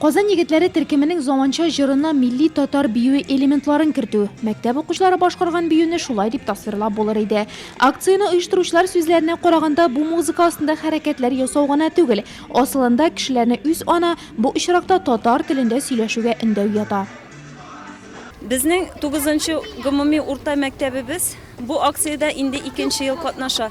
Казан егетләре төркеменең заманча җырына милли татар биюе элементларын кертү, мәктәп укучылары башкарган биюне шулай дип тасвирлап булыр иде. Акцияне оештыручылар сүзләренә караганда, бу музыка астында хәрәкәтләр ясау гына түгел, асылында кешеләрне үз ана, бу очракта татар телендә сөйләшүгә өндәү ята. Безнең тугызынчы гомуми урта мәктәбебез бу акциядә инде икенче ел катнаша.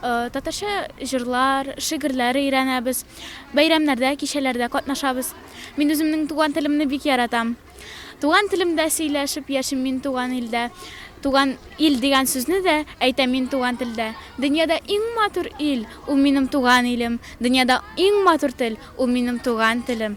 Татарча җырлар, шигырьләр өйрәнәбез. Бәйрәмнәрдә, кичәләрдә катнашабыз. Мин үземнең туган телемне бик яратам. Туган телемдә сөйләшеп яшим мин туган илдә. Туган ил дигән сүзне дә әйтәм мин туган телдә. Дөньяда иң матур ил, ул минем туган илем. Дөньяда иң матур тел, ул минем туган телем.